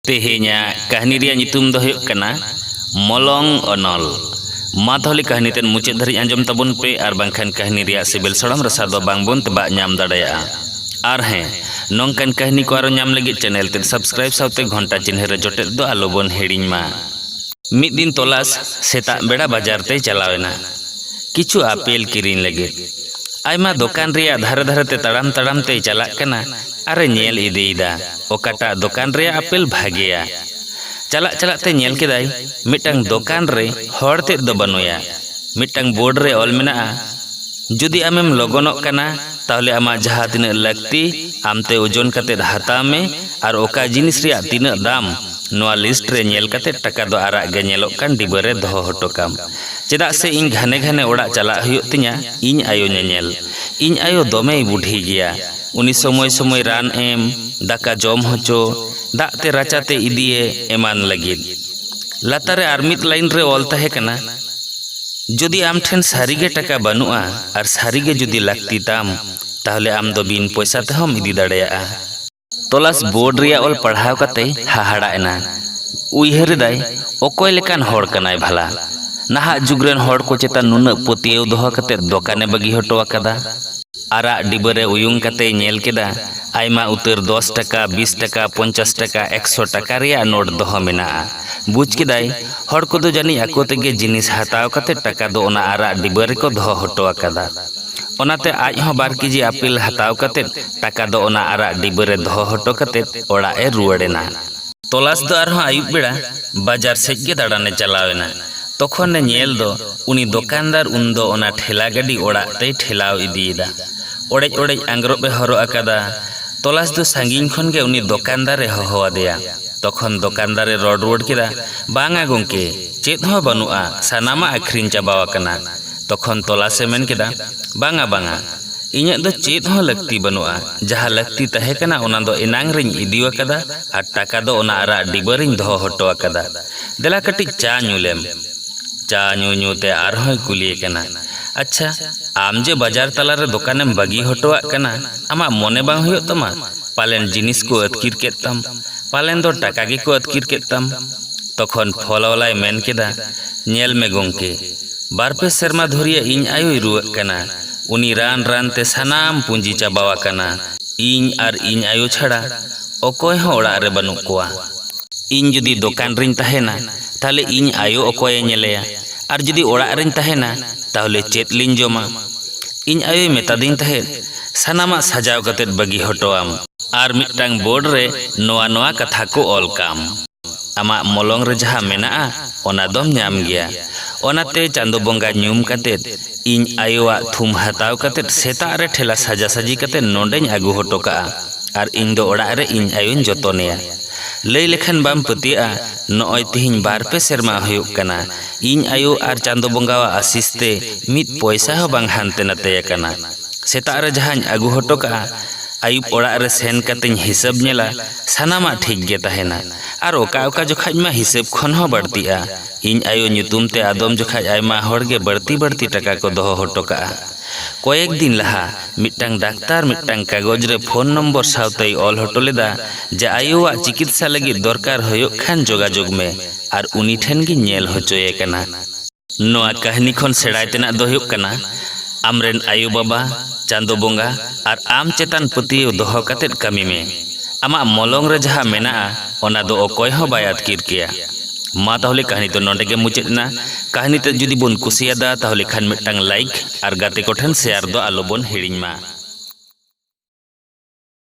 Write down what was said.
ᱛᱮᱦᱮᱧᱟᱜ ᱠᱟᱹᱦᱱᱤ ᱨᱮᱭᱟᱜ ᱧᱩᱛᱩᱢ ᱫᱚ ᱦᱩᱭᱩᱜ ᱠᱟᱱᱟ ᱢᱚᱞᱚᱝ ᱚᱱᱚᱞ ᱢᱟ ᱛᱟᱦᱚᱞᱮ ᱠᱟᱹᱦᱱᱤ ᱛᱮᱫ ᱢᱩᱪᱟᱹᱫ ᱫᱷᱟᱹᱨᱤᱡ ᱟᱸᱡᱚᱢ ᱛᱟᱵᱚᱱ ᱯᱮ ᱟᱨ ᱵᱟᱝᱠᱷᱟᱱ ᱠᱟᱹᱦᱱᱤ ᱨᱮᱭᱟᱜ ᱥᱤᱵᱤᱞ ᱥᱚᱲᱚᱢ ᱨᱟᱥᱟ ᱫᱚ ᱵᱟᱝᱵᱚᱱ ᱛᱮᱵᱟᱜ ᱧᱟᱢ ᱫᱟᱲᱮᱭᱟᱜᱼᱟ ᱟᱨ ᱦᱮᱸ ᱱᱚᱝᱠᱟᱱ ᱠᱟᱹᱦᱱᱤ ᱠᱚ ᱟᱨᱚ ᱧᱟᱢ ᱞᱟᱹᱜᱤᱫ ᱪᱮᱱᱮᱞ ᱛᱮᱫ ᱥᱟᱵᱥᱠᱨᱟᱭᱤᱵ ᱥᱟᱶᱛᱮ ᱜᱷᱚᱱᱴᱟ ᱪᱤᱱᱦᱟᱹ ᱨᱮ ᱡᱚᱴᱮᱫ ᱫᱚ ᱟᱞᱚᱵᱚᱱ ᱦᱤᱲᱤᱧ ᱢᱟ ᱢᱤᱫ ᱫᱤᱱ ᱛᱚᱞᱟᱥ ᱥᱮᱛᱟᱜ ᱵᱮᱲᱟ ᱵᱟᱡᱟᱨ ᱛᱮᱭ ᱪᱟᱞᱟᱣ ᱮᱱᱟ ᱠᱤᱪᱷᱩ ᱟᱯᱮᱞ ᱠᱤᱨᱤᱧ ᱞᱟᱹᱜᱤᱫ ᱟᱭᱢᱟ ᱫᱚᱠᱟᱱ ᱨᱮᱭᱟᱜ ᱫᱷᱟᱨᱮ ᱫᱷᱟᱨᱮ ᱛᱮ ᱛᱟᱲᱟᱢ ᱛᱟᱲᱟᱢ ᱛᱮᱭ ᱪᱟᱞᱟᱜ ᱠᱟᱱᱟ ᱟᱨᱮ ᱧᱮᱞ ᱤᱫᱤᱭᱮᱫᱟ ᱚᱠᱟᱴᱟᱜ ᱫᱚᱠᱟᱱ ᱨᱮᱭᱟᱜ ᱟᱯᱮᱞ ᱵᱷᱟᱜᱮᱭᱟ? ᱪᱟᱞᱟᱜ ᱪᱟᱞᱟᱜ ᱛᱮ ᱧᱮᱞ ᱠᱮᱫᱟᱭ ᱢᱤᱫᱴᱟᱝ ᱫᱚᱠᱟᱱ ᱨᱮ ᱦᱚᱲ ᱛᱮᱫ ᱫᱚ ᱵᱟᱹᱱᱩᱭᱟ᱾ ᱢᱤᱫᱴᱟᱝ ᱵᱳᱨᱰ ᱨᱮ ᱚᱞ ᱢᱮᱱᱟᱜᱼᱟ, ᱡᱩᱫᱤ ᱟᱢᱮᱢ ᱞᱚᱜᱚᱱᱚᱜ ᱠᱟᱱᱟ ᱛᱟᱦᱞᱮ ᱟᱢᱟᱜ ᱡᱟᱦᱟᱸ ᱛᱤᱱᱟᱹᱜ ᱞᱟᱹᱠᱛᱤ ᱟᱢ ᱛᱮ ᱳᱡᱚᱱ ᱠᱟᱛᱮ ᱦᱟᱛᱟᱣ ᱢᱮ ᱟᱨ ᱚᱠᱟ ᱡᱤᱱᱤᱥ ᱨᱮᱭᱟᱜ ᱛᱤᱱᱟᱹᱜ ᱫᱟᱢ ᱱᱚᱣᱟ ᱞᱤᱥᱴ ᱨᱮ ᱧᱮᱞ ᱠᱟᱛᱮ ᱴᱟᱠᱟ ᱫᱚ ᱟᱨᱟᱜ ᱜᱮ ᱧᱮᱞᱚᱜ ᱠᱟᱱ ᱰᱤᱵᱟᱹ ᱨᱮ ᱫᱚᱦᱚ ᱦᱚᱴᱚ ᱠᱟᱢ᱾ ᱪᱮᱫᱟᱜ ᱥᱮ ᱤᱧ ᱜᱷᱟᱱᱮ ᱜᱷᱟᱱᱮ ᱚᱲᱟᱜ ᱪᱟᱞᱟᱜ ᱦᱩᱭᱩᱜ ᱛᱤᱧᱟ ᱤᱧ ᱟᱭᱳ ᱧᱮᱧᱮᱞ᱾ ᱤᱧ ᱟᱭᱳ ᱫᱚᱢᱮᱭ ᱵᱩᱰᱷᱤ ᱜᱮᱭᱟ᱾ ᱩᱱᱤ ᱥᱚᱢᱚᱭ ᱥᱚᱢᱚᱭ ᱨᱟᱱ ᱮᱢ, ᱫᱟᱠᱟ ᱡᱚᱢ ᱦᱚᱪᱚ, ᱫᱟᱜ ᱛᱮ ᱨᱟᱪᱟ ᱛᱮ ᱤᱫᱤᱭᱮ ᱮᱢᱟᱱ ᱞᱟᱹᱜᱤᱫ᱾ ᱞᱟᱛᱟᱨ ᱨᱮ ᱟᱨ ᱢᱤᱫ ᱞᱟᱭᱤᱱ ᱨᱮ ᱚᱞ ᱛᱟᱦᱮᱸ ᱠᱟᱱᱟ, ᱡᱩᱫᱤ ᱟᱢ ᱴᱷᱮᱱ ᱥᱟᱹᱨᱤ ᱜᱮ ᱴᱟᱠᱟ ᱵᱟᱹᱱᱩᱜᱼᱟ ᱟᱨ ᱥᱟᱹᱨᱤ ᱜᱮ ᱡᱩᱫᱤ ᱞᱟᱹᱠᱛᱤ ᱛᱟᱢ, ᱛᱟᱦᱚᱞᱮ ᱟᱢ ᱫᱚ ᱵᱤᱱ ᱯᱚᱭᱥᱟ ᱛᱮᱦᱚᱸᱢ ᱤᱫᱤ ᱫᱟᱲᱮᱭᱟᱜᱼᱟ᱾ ᱛᱚᱞᱟᱥ ᱵᱳᱨᱰ ᱨᱮᱭᱟᱜ ᱚᱞ ᱯᱟᱲᱦᱟᱣ ᱠᱟᱛᱮᱭ ᱦᱟᱦᱟᱲᱟᱜ ᱮᱱᱟ᱾ ᱩᱭᱦᱟᱹᱨ ᱮᱫᱟᱭ, ᱚᱠᱚᱭ ᱞᱮᱠᱟᱱ ᱦᱚᱲ ᱠᱟᱱᱟᱭ ᱵᱷᱟᱞᱟ? ᱱᱟᱦᱟᱜ ᱡᱩᱜᱽ ᱨᱮᱱ ᱦᱚᱲ ᱠᱚ ᱪᱮᱛᱟᱱ ᱱᱩᱱᱟᱹᱜ ᱯᱟᱹᱛᱭᱟᱹᱣ ᱫᱚᱦᱚ ᱠᱟᱛᱮ ᱫᱚᱠᱟᱱᱮ ᱵᱟᱹᱜᱤ ᱦᱚᱴᱚ ᱟᱠᱟᱫᱟ᱾ ᱟᱨᱟᱜ ᱰᱤᱵᱟᱹ ᱨᱮ ᱩᱭᱩᱝ ᱠᱟᱛᱮᱭ ᱧᱮᱞ ᱠᱮᱫᱟ ᱟᱭᱢᱟ ᱩᱛᱟᱹᱨ ᱫᱚᱥ ᱴᱟᱠᱟ, ᱵᱤᱥ ᱴᱟᱠᱟ, ᱯᱚᱧᱪᱟᱥ ᱴᱟᱠᱟ, ᱮᱠᱥᱚ ᱴᱟᱠᱟ ᱨᱮᱭᱟᱜ ᱱᱳᱴ ᱫᱚᱦᱚ ᱢᱮᱱᱟᱜᱼᱟ᱾ ᱵᱩᱡᱽ ᱠᱮᱫᱟᱭ ᱦᱚᱲ ᱠᱚᱫᱚ ᱡᱟᱹᱱᱤᱡ ᱟᱠᱚ ᱛᱮᱜᱮ ᱡᱤᱱᱤᱥ ᱦᱟᱛᱟᱣ ᱠᱟᱛᱮ ᱴᱟᱠᱟ ᱫᱚ ᱚᱱᱟ ᱟᱨᱟᱜ ᱰᱤᱵᱟᱹ ᱨᱮᱠᱚ ᱫᱚᱦᱚ ᱦᱚᱴᱚ ᱟᱠᱟᱫᱟ᱾ ᱚᱱᱟᱛᱮ ᱟᱡ ᱦᱚᱸ ᱵᱟᱨ ᱠᱮᱡᱤ ᱟᱯᱮᱞ ᱦᱟᱛᱟᱣ ᱠᱟᱛᱮ ᱴᱟᱠᱟ ᱫᱚ ᱚᱱᱟ ᱟᱨᱟᱜ ᱰᱤᱵᱟᱹ ᱨᱮ ᱫᱚᱦᱚ ᱦᱚᱴᱚ ᱠᱟᱛᱮ ᱚᱲᱟᱜ ᱮ ᱨᱩᱣᱟᱹᱲ ᱮᱱᱟ᱾ ᱛᱚᱞᱟᱥ ᱫᱚ ᱟᱨᱦᱚᱸ ᱟᱹᱭᱩᱵ ᱵᱮᱲᱟ ᱵᱟᱡᱟᱨ ᱥᱮᱡ ᱜᱮ ᱫᱟᱬᱟᱱ ᱮ ᱪᱟᱞᱟᱣ ᱮᱱᱟ᱾ ᱛᱚᱠᱷᱚᱱ ᱮ ᱧᱮᱞ ᱫᱚ ᱩᱱᱤ ᱫᱚᱠᱟᱱᱫᱟᱨ ᱩᱱ ᱫᱚ ᱚᱱᱟ ᱴᱷᱮᱞᱟ ᱜᱟᱹᱰᱤ ᱚᱲᱟᱜ ᱛᱮᱭ ᱴᱷᱮᱞᱟᱣ ᱤᱫᱤ ᱮᱫᱟ᱾ ᱚᱲᱮᱡ ᱚᱲᱮᱡ ᱟᱸᱜᱽᱨᱚᱵ ᱮ ᱦᱚᱨᱚᱜ ᱟᱠᱟᱫᱟ᱾ ᱛᱚᱞᱟᱥ ᱫᱚ ᱥᱟᱺᱜᱤᱧ ᱠᱷᱚᱱ ᱜᱮ ᱩᱱᱤ ᱫᱚᱠᱟᱱᱫᱟᱨ ᱮ ᱦᱚᱦᱚ ᱟᱫᱮᱭᱟ᱾ ᱛᱚᱠᱷᱚᱱ ᱫᱚᱠᱟᱱᱫᱟᱨ ᱮ ᱨᱚᱲ ᱨᱩᱣᱟᱹᱲ ᱠᱮᱫᱟ, ᱵᱟᱝᱼᱟ ᱜᱚᱢᱠᱮ, ᱪᱮᱫ ᱦᱚᱸ ᱵᱟᱹᱱᱩᱜᱼᱟ, ᱥᱟᱱᱟᱢᱟᱜ ᱟᱹᱠᱷᱨᱤᱧ ᱪᱟᱵᱟ ᱟᱠᱟᱱᱟ᱾ ᱛᱚᱠᱷᱚᱱ ᱛᱚᱞᱟᱥ ᱮ ᱢᱮᱱ ᱠᱮᱫᱟ, ᱵᱟᱝᱼᱟ ᱵᱟᱝᱼᱟ, ᱤᱧᱟᱜ ᱫᱚ ᱪᱮᱫ ᱦᱚᱸ ᱞᱟᱹᱠᱛᱤ ᱵᱟᱹᱱᱩᱜᱼᱟ᱾ ᱡᱟᱦᱟᱸ ᱞᱟᱹᱠᱛᱤ ᱛᱟᱦᱮᱸ ᱠᱟᱱᱟ ᱚᱱᱟ ᱫᱚ ᱮᱱᱟᱝ ᱨᱮᱧ ᱤᱫᱤ ᱟᱠᱟᱫᱟ ᱟᱨ ᱴᱟᱠᱟ ᱫᱚ ᱚᱱᱟ ᱟᱨᱟᱜ ᱰᱤᱵᱟᱹ ᱨᱮᱧ ᱫᱚᱦᱚ ᱦᱚᱴᱚ ᱟᱠᱟᱫᱟ᱾ ᱫᱮᱞᱟ ᱠᱟᱹᱴᱤᱡ ᱪᱟ ᱧᱩ ᱞᱮᱢ᱾ ᱪᱟ ᱧᱩ ᱧᱩ ᱛᱮ ᱟᱨᱦᱚᱸᱭ ᱠᱩᱞᱤᱭᱮ ᱠᱟᱱᱟ, ᱟᱪᱪᱷᱟ, ᱟᱢ ᱡᱮ ᱵᱟᱡᱟᱨ ᱛᱟᱞᱟ ᱨᱮ ᱫᱚᱠᱟᱱᱮᱢ ᱵᱟᱹᱜᱤ ᱦᱚᱴᱚᱣᱟᱜ ᱠᱟᱱᱟ, ᱟᱢᱟᱜ ᱢᱚᱱᱮ ᱵᱟᱝ ᱦᱩᱭᱩᱜ ᱛᱟᱢᱟ? ᱯᱟᱞᱮᱱ ᱡᱤᱱᱤᱥ ᱠᱚ ᱟᱹᱛᱠᱤᱨ ᱠᱮᱫ ᱛᱟᱢ᱾ ᱯᱟᱞᱮᱱ ᱫᱚ ᱴᱟᱠᱟ ᱜᱮ ᱠᱚ ᱟᱹᱛᱠᱤᱨ ᱠᱮᱫ ᱛᱟᱢ᱾ ᱛᱚᱠᱷᱚᱱ ᱯᱷᱚᱞᱣᱟᱞᱟᱭ ᱢᱮᱱ ᱠᱮᱫᱟ, ᱧᱮᱞ ᱢᱮ ᱜᱚᱢᱠᱮ, ᱵᱟᱨ ᱯᱮ ᱥᱮᱨᱢᱟ ᱫᱷᱩᱨᱭᱟᱹ ᱤᱧ ᱟᱭᱳᱭ ᱨᱩᱣᱟᱹᱜ ᱠᱟᱱᱟ᱾ ᱩᱱᱤ ᱨᱟᱱ ᱨᱟᱱ ᱛᱮ ᱥᱟᱱᱟᱢ ᱯᱩᱸᱡᱤ ᱪᱟᱵᱟᱣᱟᱠᱟᱱᱟ᱾ ᱤᱧ ᱟᱨ ᱤᱧ ᱟᱭᱳ ᱪᱷᱟᱲᱟ ᱚᱠᱚᱭ ᱦᱚᱸ ᱚᱲᱟᱜ ᱨᱮ ᱵᱟᱹᱱᱩᱜ ᱠᱚᱣᱟ᱾ ᱤᱧ ᱡᱩᱫᱤ ᱫᱚᱠᱟᱱ ᱨᱤᱧ ᱛᱟᱦᱮᱸᱱᱟ ᱛᱟᱦᱞᱮ ᱤᱧ ᱟᱭᱳ ᱚᱠᱚᱭ ᱮ ᱧᱮᱞᱮᱭᱟ ᱟᱨ ᱡᱩᱫᱤ ᱚᱲᱟᱜ ᱨᱤᱧ ᱛᱟᱦᱮᱸᱱᱟ ᱛᱟᱦᱞᱮ ᱪᱮᱫ ᱞᱤᱧ ᱡᱚᱢᱟ᱾ ᱤᱧ ᱟᱭᱳᱭ ᱢᱮᱛᱟᱫᱤᱧ ᱛᱟᱦᱮᱸᱫ ᱥᱟᱱᱟᱢᱟᱜ ᱥᱟᱡᱟᱣ ᱠᱟᱛᱮ ᱵᱟᱹᱜᱤ ᱦᱚᱴᱚ ᱟᱢ᱾ ᱟᱨ ᱢᱤᱫᱴᱟᱝ ᱵᱳᱨᱰ ᱨᱮ ᱱᱚᱣᱟ ᱱᱚᱣᱟ ᱠᱟᱛᱷᱟ ᱠᱚ ᱚᱞ ᱠᱟᱢ᱾ ᱟᱢᱟᱜ ᱢᱚᱞᱚᱝ ᱨᱮ ᱡᱟᱦᱟᱸ ᱢᱮᱱᱟᱜᱼᱟ ᱚᱱᱟ ᱫᱚᱢ ᱧᱟᱢ ᱜᱮᱭᱟ᱾ ᱚᱱᱟᱛᱮ ᱪᱟᱸᱫᱚ ᱵᱚᱸᱜᱟ ᱧᱩᱢ ᱠᱟᱛᱮ ᱤᱧ ᱟᱭᱳᱣᱟᱜ ᱛᱷᱩᱢ ᱦᱟᱛᱟᱣ ᱠᱟᱛᱮ ᱥᱮᱛᱟᱜ ᱨᱮ ᱴᱷᱮᱞᱟ ᱥᱟᱡᱟᱥᱟᱡᱤ ᱠᱟᱛᱮ ᱱᱚᱸᱰᱮᱧ ᱟᱹᱜᱩ ᱦᱚᱴᱚ ᱠᱟᱜᱼᱟ᱾ ᱟᱨ ᱤᱧ ᱫᱚ ᱚᱲᱟᱜ ᱨᱮ ᱤᱧ ᱟᱭᱳᱧ ᱡᱚᱛᱚᱱᱮᱭᱟ᱾ ᱞᱟᱹᱭ ᱞᱮᱠᱷᱟᱱ ᱵᱟᱢ ᱯᱟᱹᱛᱭᱟᱹᱜᱼᱟ ᱱᱚᱜᱼᱚᱭ ᱛᱤᱦᱤᱧ ᱵᱟᱨ ᱯᱮ ᱥᱮᱨᱢᱟ ᱦᱩᱭᱩᱜ ᱠᱟᱱᱟ ᱤᱧ ᱟᱭᱳ ᱟᱨ ᱪᱟᱸᱫᱚ ᱵᱚᱸᱜᱟᱣᱟᱜ ᱟᱥᱤᱥ ᱛᱮ ᱢᱤᱫ ᱯᱚᱭᱥᱟ ᱦᱚᱸ ᱵᱟᱝ ᱦᱟᱱᱛᱮ ᱱᱟᱛᱮ ᱟᱠᱟᱱᱟ᱾ ᱥᱮᱛᱟᱜ ᱨᱮ ᱡᱟᱦᱟᱸᱧ ᱟᱹᱜᱩ ᱦᱚᱴᱚ ᱠᱟᱜᱼᱟ ᱟᱹᱭᱩᱵ ᱚᱲᱟᱜ ᱨᱮ ᱥᱮᱱ ᱠᱟᱛᱮᱧ ᱦᱤᱥᱟᱹᱵᱽ ᱧᱮᱞᱟ ᱥᱟᱱᱟᱢᱟᱜ ᱴᱷᱤᱠ ᱜᱮ ᱛᱟᱦᱮᱸᱱᱟ ᱟᱨ ᱚᱠᱟ ᱚᱠᱟ ᱡᱚᱠᱷᱟᱡ ᱢᱟ ᱦᱤᱥᱟᱹᱵᱽ ᱠᱷᱚᱱ ᱦᱚᱸ ᱵᱟᱹᱲᱛᱤᱜᱼᱟ᱾ ᱤᱧ ᱟᱭᱳ ᱧᱩᱛᱩᱢ ᱛᱮ ᱟᱫᱚᱢ ᱡᱚᱠᱷᱟᱡ ᱟᱭᱢᱟ ᱦᱚᱲ ᱜᱮ ᱵᱟᱹᱲᱛᱤ ᱵᱟᱹᱲᱛᱤ ᱴᱟᱠᱟ ᱠᱚ ᱫᱚᱦᱚ ᱦᱚᱴᱚ ᱠᱟᱜᱼᱟ᱾ ᱠᱚᱭᱮᱠ ᱫᱤᱱ ᱞᱟᱦᱟ ᱢᱤᱫᱴᱟᱝ ᱰᱟᱠᱛᱟᱨ ᱢᱤᱫᱴᱟᱝ ᱠᱟᱜᱚᱡᱽ ᱨᱮ ᱯᱷᱳᱱ ᱱᱚᱢᱵᱚᱨ ᱥᱟᱶᱛᱮᱭ ᱚᱞ ᱦᱚᱴᱚ ᱞᱮᱫᱟ ᱡᱮ ᱟᱭᱳᱣᱟᱜ ᱪᱤᱠᱤᱛᱥᱟ ᱞᱟᱹᱜᱤᱫ ᱫᱚᱨᱠᱟᱨ ᱦᱳᱭᱳᱜ ᱠᱷᱟᱱ ᱡᱳᱜᱟᱡᱳᱜᱽ ᱢᱮ ᱟᱨ ᱩᱱᱤ ᱴᱷᱮᱱ ᱜᱮ ᱧᱮᱞ ᱦᱚᱪᱚᱭᱮ ᱠᱟᱱᱟ᱾ ᱱᱚᱣᱟ ᱠᱟᱹᱦᱱᱤ ᱠᱷᱚᱱ ᱥᱮᱬᱟᱭ ᱛᱮᱱᱟᱜ ᱫᱚ ᱦᱳᱭᱳᱜ ᱠᱟᱱᱟ ᱟᱢ ᱨᱮᱱ ᱟᱭᱳ ᱵᱟᱵᱟ, ᱪᱟᱸᱫᱚ ᱵᱚᱸᱜᱟ ᱟᱨ ᱟᱢ ᱪᱮᱛᱟᱱ ᱯᱟᱹᱛᱭᱟᱹᱣ ᱫᱚᱦᱚ ᱠᱟᱛᱮ ᱠᱟᱹᱢᱤ ᱢᱮ᱾ ᱟᱢᱟᱜ ᱢᱚᱞᱚᱝ ᱨᱮ ᱡᱟᱦᱟᱸ ᱢᱮᱱᱟᱜᱼᱟ ᱚᱱᱟ ᱫᱚ ᱚᱠᱚᱭ ᱦᱚᱸ ᱵᱟᱭ ᱟᱹᱛᱠᱤᱨ ᱠᱮᱭᱟ᱾ ᱢᱟ ᱛᱟᱦᱚᱞᱮ ᱠᱟᱹᱦᱱᱤ ᱫᱚ ᱱᱚᱰᱮ ᱜᱮ ᱢᱩᱪᱟᱹᱫ ᱮᱱᱟ ᱠᱟᱹᱦᱱᱤ ᱛᱮᱫ ᱡᱩᱫᱤ ᱵᱚᱱ ᱠᱩᱥᱤᱭᱟᱫᱟ ᱛᱟᱦᱚᱞᱮ ᱠᱷᱟᱱ ᱢᱤᱫᱴᱟᱝ ᱞᱟᱭᱤᱠ ᱟᱨ ᱜᱟᱛᱮ ᱠᱚᱴᱷᱮᱱ ᱥᱮᱭᱟᱨ ᱫᱚ ᱟᱞᱚ ᱵᱚᱱ ᱦᱤᱲᱤᱧ ᱢᱟ